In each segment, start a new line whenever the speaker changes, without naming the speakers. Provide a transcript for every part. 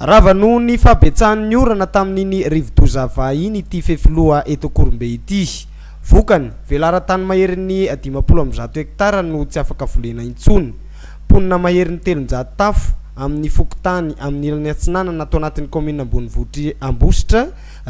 Rava noho ny fahabetsahan'ny orana tamin'iny rivodoza vahiny ity fefiloha eto Akorombe ity. Vokany, velaran-tany maherin'ny dimampolo amby zato hektara no tsy afaka volena intsony. Mponina maherin'ny telonjato tafo amin'ny fokontany amin'ny ilany atsinanana ato anatin'ny kaominina ambonivohitr'i Ambositra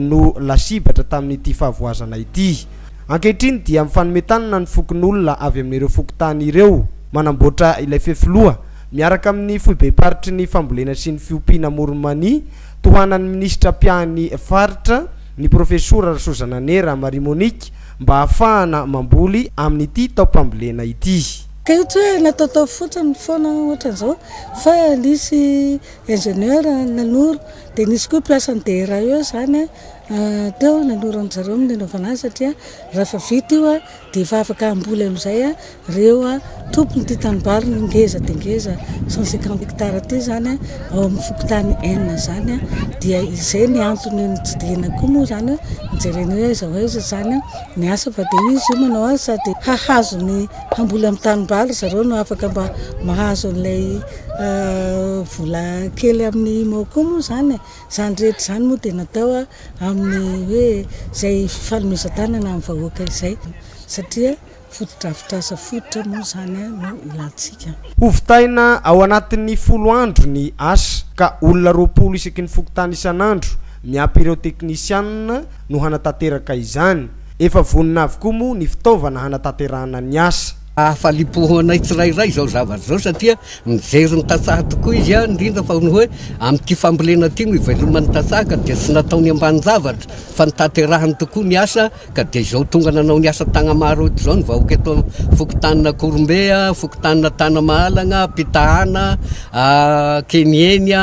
no lasibatra tamin'ity fahavoazana ity. Ankehitriny dia mifanome tanana ny fokonolona avy amin'ireo fokontany ireo manamboatra ilay fefiloha Miaraka amin'ny foibem-paritry ny fambolena sy ny fiompiana Amoron'i-Mania, tohanan'ny minisitra mpiahan'ny faritra, ny profesora Rasoazanane Ramaria Monique, mba hahafahana mamboly amin'ity taom-pambolena ity. Teto hoe nataotao
fotsiny foana ohatran'izao fa nisy ingénieur nanoro dia nisy koa mpiasan'ny DRAE izany teo nanoro an-dry zareo ny nanaovana azy satria raha efa vita io Dia vavaka hamboly amin'izay ireo tompon'ity tanimbary ngeza dia ngeza cent cinquante hectares ity izany ao amin'ny fokontany Enina izany dia izay ny antony nitsidihina koa moa izany nijerena hoe aiza ho aiza izany ny asa fa dia izy io manao azy sady hahazo ny hamboly amin'ny tanimbary ry zareo no afaka mba mahazo an'ilay vola kely amin'ny IMO koa moa izany e. Izany rehetra izany moa dia natao amin'ny hoe izay fifanomezan-tanana amin'ny vahoaka izay satria fotodrafitrasa fototra moa izany no ilantsika. Hovitaina
ao anatin'ny folo andro ny asa ka olona roapolo isaky ny fokontany isan'andro miampy ireo teknisianina no hanatanteraka izany. Efa vonona avokoa moa ny fitaovana hanatanterahana ny asa. Hahafaliam-po ho anay
tsirairay izao zavatra izao satria mijery ny tantsaha tokoa izy, indrindra fa ny hoe amin'ity fambolena ity no iveloman'ny tantsaha ka dia tsy nataony ambanin-javatra fa notanterahiny tokoa ny asa ka dia izao tonga nanao ny asa Tagnamaro eto izao ny vahoaka eto fokontanin'Akorombe, fokontanina Tanamahalagna, Pitahana, Kenieny,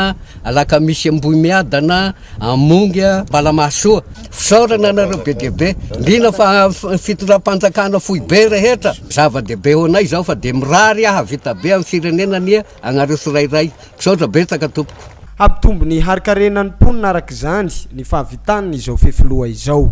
Alakamisy Ambohimiadana. Hamongy a Balamahasoa. Fisaorana anareo be dia be. Liana fa fitondram-panjakana foibe rehetra. Zava-dehibe ho anay izao fa dia mirary hahavita be amin'ny firenena anie anareo tsirairay. Misaotra betsaka tompoko. Hampitombo
ny harin-karenan'ny mponina araka izany
ny
fahavitan'ny izao fefiloha izao.